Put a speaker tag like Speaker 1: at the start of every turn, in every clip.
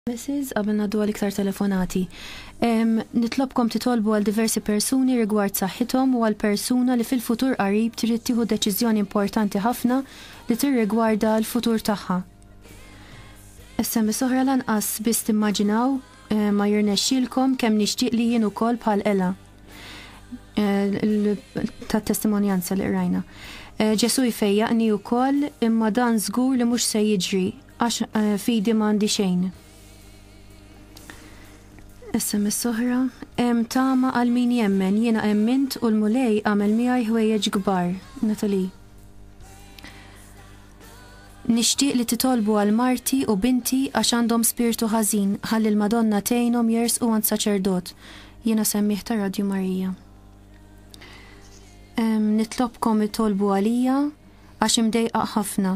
Speaker 1: Mrs. Qabel ngħaddu għal iktar telefonati. Em, nitlobkom titolbu għal diversi persuni rigward saħħithom u għal persuna li fil-futur qarib trid tieħu deċiżjoni importanti ħafna li tirrigwarda l-futur tagħha. SMS oħra lanqas biss timmaġinaw eh, ma jirnexxilkom kemm nixtieq li jien ukoll bħal ela eh, tat testimonjanza li qrajna. Eh, Ġesu jfejjaqni wkoll imma dan żgur li mhux se jiġri Għax eh, fidi m'għandi xejn. SMS soħra, em tama għal min jemmen, jiena emmint u l-mulej għamel miegħi ħwejjeġ kbar, Natali. Nixtieq li titolbu għal marti u binti għax għandhom spirtu ħażin, ħalli l-Madonna tgħinhom jersqu għand saċerdot. Jiena semmiħ ta' Radju Marija. Em, nitlobkom itolbu għalija għax imdejqa ħafna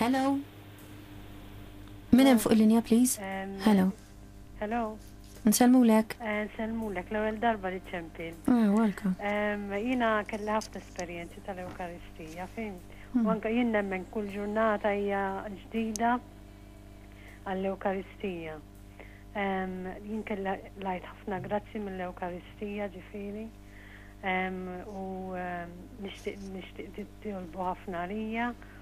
Speaker 1: Hello? Min hemm fuq il-linja please? Hello?
Speaker 2: Hello? Nsellmulek.
Speaker 1: Eh, nsellmulek,
Speaker 2: l-ewwel darba li ċempil. Ah, welcome.
Speaker 1: Jiena
Speaker 2: kelli ħafna esperjenzi tal-Ewkaristija, fin. U hmm. anke jien nemmen kull ġurnata hija ġdida għall-Ewkaristija. Jien kelli lajt ħafna grazzi mill-Ewkaristija ġifieri. U nixtieq nixtieq titolbu ħafna għalija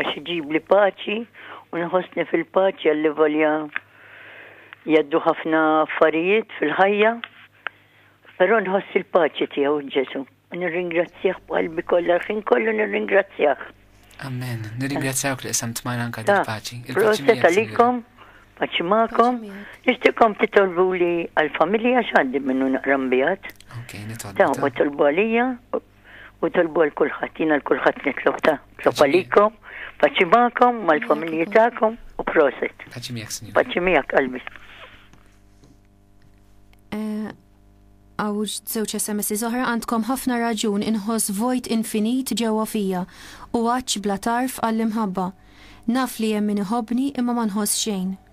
Speaker 3: Għax iġibli paċi u nħossni fil-paċi għallivolja jgħaddu ħafna affarijiet fil-ħajja, però nħoss il-paċi tiegħu Ġesu. Nirringrazzjah b'qalbi kollha l-ħin kollu nirringrazzjah. Amen.
Speaker 4: Nirringrazzjawk li qsam tmajna anka dil-paċi. Proset għalikom,
Speaker 3: paċi ma'kom, nixtikom titolbu li għal-familja xaddi minnu naqram bijat. Ok, nitolbu.
Speaker 4: Ta' u tolbu għalija,
Speaker 3: u tolbu għal kulħadd, jiena l kulħadd nitlob ta' tlob għalikom, paċi magħkom, mal-familji tagħkom u proset. Paċi miegħek, Sinjur. Paċi
Speaker 4: miegħek qalbi.
Speaker 1: Eh, għaw żewġ SMS oħra għandkom ħafna raġun inħoss vojt infinit ġewwa fija u għaċ bla tarf għall-imħabba. Naf li hemm min iħobni imma ma nħoss xejn.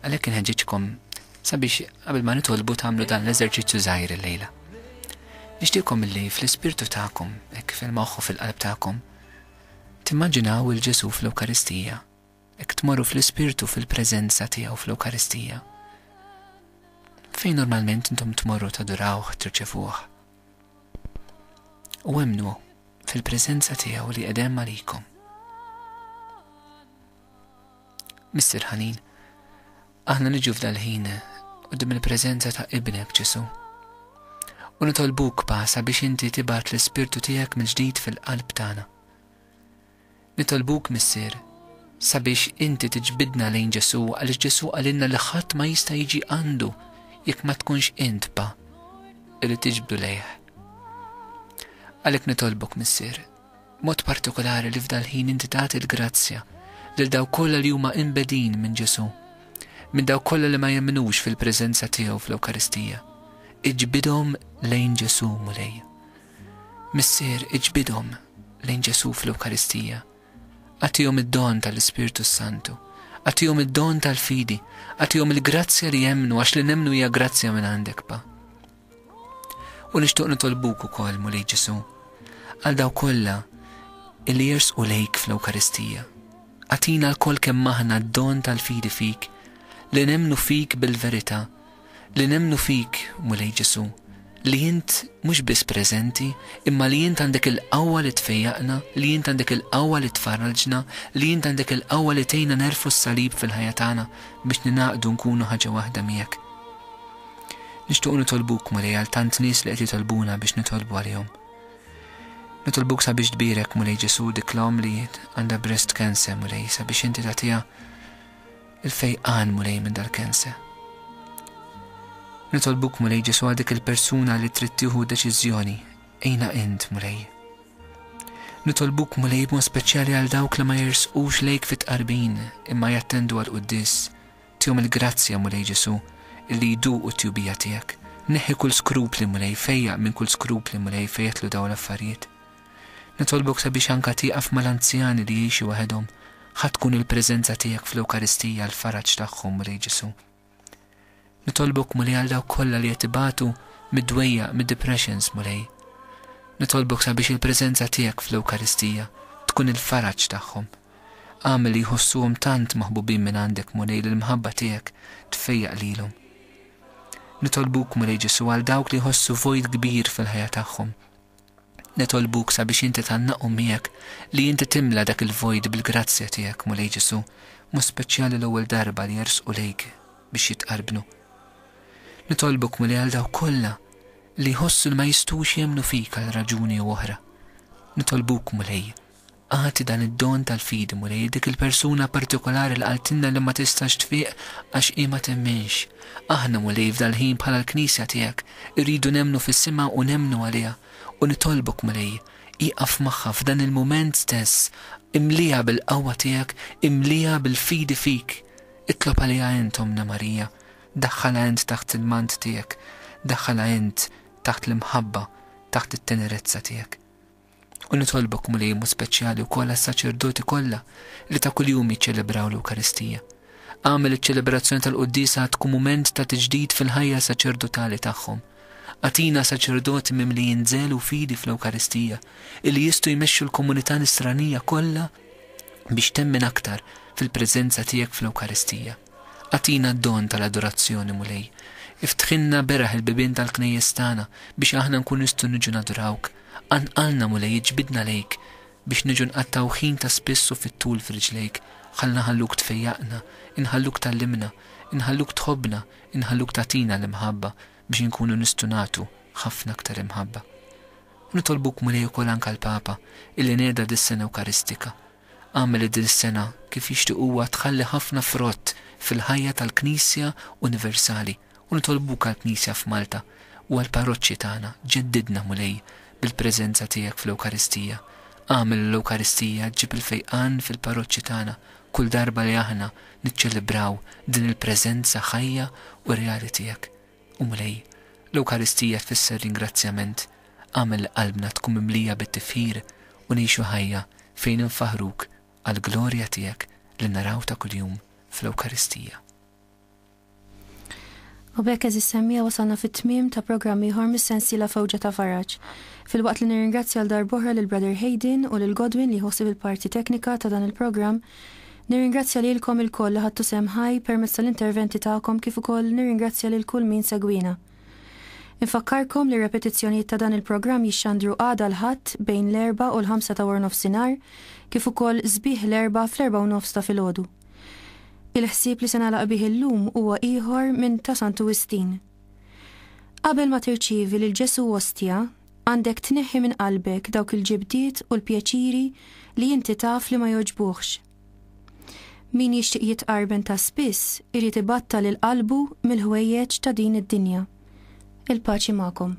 Speaker 4: Għalhekk inħeġġiġkom sabiex qabel ma nitolbu tagħmlu dan l-eżerċizzju żgħir illejla. Nixtieqkom illi fl-ispirtu tagħkom, hekk fil-moħħ u fil-qalb tagħkom, timmaġinaw il Ġesù fl-Ewkaristija, hekk tmorru fl-ispirtu fil-preżenza tiegħu fl-Ewkaristija. Fejn normalment intom tmorru tadurawh, tirċevuh. U emnu fil-preżenza tiegħu li qedem għalikom. Mister ħanin, aħna niġu f'dal-ħin qudiem il-preżenza ta' Ibnek Ġesu. U nitolbuk pa sabiex inti tibgħat l-ispirtu tiegħek mill-ġdid fil-qalb tagħna. Nitolbuk missier sabiex inti tiġbidna lejn Ġesu għaliex Ġesu għalinna li ħadd ma jista' jiġi għandu jekk ma tkunx int pa li tiġbdu lejh. Għalhekk nitolbok missier B'mod partikolari li f'dal-ħin inti tagħti l-grazzja lil dawk kollha li huma imbegħdin minn Ġesù, minn dawk kollha li ma jemmnux fil-preżenza tiegħu fl-Ewkaristija. Iġbidhom lejn Ġesù, Mulej. Missier, iġbidhom lejn Ġesù fl-Ewkaristija. Agħtihom id-don tal-Ispirtu s-Santu. Agħtihom id-don tal-fidi. Agħtihom il-grazzja li jemmnu għax li nemmnu hija grazzja minn għandek, Pa. U nixtiequ nitolbuk ukoll, Mulej Ġesù, għal dawk kollha li jersqu lejk fl-Ewkaristija. Agħtina lkoll kemm aħna d-don tal-fidi fik, li nemmnu fik bil-verità, li nemmnu fik, Mulej Ġesù, li int mhux biss preżenti, imma li int għandek il-qawwa li tfejjaqna, li int għandek il-qawwa li tfarrġna, li int għandek il-qawwa li tgħinna nerfgħu s-salib fil-ħajja tagħna biex ningħaqdu nkunu ħaġa waħda miegħek. Nixtiequ nitolbuk, Mulej, għal tant nies li qed jitolbuna biex nitolbu għalihom. Nitolbuk sabiex tbierek, Mulej Ġesu, dik l-omm li għandha breast cancer, Mulej, sabiex inti tagħtiha il-fejqan, Mulej, minn dal-cancer. Nitolbuk, Mulej Ġesu, għal dik il-persuna li trid tieħu deċiżjoni, ejna int, Mulej. Nitolbuk mulej b'mod speċjali għal dawk li ma jersqux lejk fit-qarbin imma jattendu għal quddis Tihom il-grazzja, Mulej Ġesù, illi jduqu t-tjubija tiegħek. Neħħi kull skrupli, Mulej, fejjaq minn kull skrupli, Mulej, fejjetlu dawn l-affarijiet. Nitolbok sabiex anka tieqaf mal-anzjani li jgħixu waħedhom, ħa tkun il-preżenza tiegħek fl-Ewkaristija l-faraġ tagħhom, Mulej Ġesù. Nitolbok, Mulej, għal dawk kollha li qed ibatu mid-dwejjaq, mid-depressions, Mulej. Nitolbok sabiex il-preżenza tiegħek fl-Ewkaristija tkun il-faraġ tagħhom. Agħmel li jħossuhom tant maħbubin mingħandek, Mulej, li l-mħabba tiegħek tfejjaq lilhom. Nitolbuk, Mulej Ġesù, għal dawk li jħossu vojt kbir fil-ħajja tagħhom. Nitolbuk sabiex inti tgħannaqhom miegħek li inti timla dak il-vojt bil-grazzja tiegħek, Mulej Ġesù, mod speċjali l-ewwel darba li jersqu lejk biex jitqarbnu. Nitolbuk, Mulej, għal dawk kollha li jħossu li ma jistgħux jemmnu fik għal raġuni jew oħra. Nitolbuk, Mulej, Agħti dan id-don tal-fidi, Mulej, lil dik il-persuna partikolari li qaltilna li ma tistax tfiq għax hi ma temminx. Aħna, Mulej, f'dal-ħin bħala l-Knisja tiegħek, irridu nemmnu fis-sema u nemmnu għaliha. U nitolbok, Mulej, ieqaf magħha f'dan il-mument stess, imliha bil-qawwa tiegħek, imliha bil-fidi fik. Itlob għaliha int, Ommna Marija. Daħħalha int taħt il-mant tiegħek. Daħħalha int taħt l-imħabba, taħt it-tenerezza tiegħek. U nitolbok, Mulej, mod speċjali wkoll għas-saċerdoti kollha li ta' kuljum jiċċelebraw l-Ewkaristija. Agħmel iċ-ċelebrazzjoni tal-quddiesa tkun mument ta' tiġdid fil-ħajja saċerdotali tagħhom. Atina saċerdoti mimlijin żel u fidi fl-Ewkaristija illi jistgħu jmexxu l-komunità nisranija kollha biex temmen aktar fil-preżenza tiegħek fl-Ewkaristija. Atina d-don tal-adorazzjoni, Mulej. Iftħinna beraħ il-bibien tal-knejjes tagħna biex aħna nkun nistgħu niġu nadurawk Qanqalna, Mulej, iġbidna lejk, Biex niġu nqattgħu ħin ta' spiss u fit-tul f'riġlejk. Ħa nħalluk tfejjaqna, Inħalluk tgħallimna, Inħalluk tħobbna, Inħalluk tagħtina l-imħabba, Biex inkunu nistgħu nagħtu ħafna aktar imħabba. U nitolbuk, Mulej, ukoll anke għall-Papa, illi neda dis-sena Ewkaristika. Agħmel li din is-sena, kif jixtieq huwa, tħalli ħafna frott fil-ħajja tal-Knisja universali. u nitolbuk għall-Knisja f'Malta u għall-parroċċi tagħna, ġeddidna, Mulej, bil-preżenza tiegħek fl-Ewkaristija. Agħmel li l-Ewkaristija ġġib il-fejqan fil-parroċċi tagħna kull darba li aħna niċċelebraw din il-preżenza ħajja u reali tiegħek. U Mulej, l-Ewkaristija tfisser ringrazzjament, agħmel li qalbna tkun mimlija bit-tifħir u ngħixu ħajja fejn infaħħruk għall-glorja tiegħek li naraw ta' kuljum fl-Ewkaristija.
Speaker 1: U b'hekk għeżież semmija wasalna fit-tmiem ta' programm ieħor mis-sensiela Fewġa ta' Faraġ. Filwaqt li nirringrazzja għal darb'oħra lil Brother Hayden u lil Godwin li jieħu ħsieb il-parti teknika ta' dan il-programm, nirringrazzja lilkom ilkoll li ħadtu sehem ħaj permezz tal-interventi tagħkom kif ukoll nirringrazzja lil kull min segwiena. Infakkarkom li r-repetizzjonijiet ta' dan il-programm jixxandru għada l-Ħadd bejn l-erbgħa u l-ħamsa ta' waranofsinhar kif ukoll sbieħ l-Erbgħa fl-erbgħa u nofs ta' filgħodu. Il-ħsieb li se nagħlaq bih illum huwa ieħor minn ta' Santu Wistin. Qabel ma tirċievi lil Ġesù Ostja, għandek tneħħi minn qalbek dawk il-ġibdiet u l-pjaċiri li inti taf li ma jogħġbuhx. Min jixtieq jitqarben ta' spiss irid ibattal lil qalbu mill-ħwejjeġ ta' din id-dinja. Il-paċi magħkom.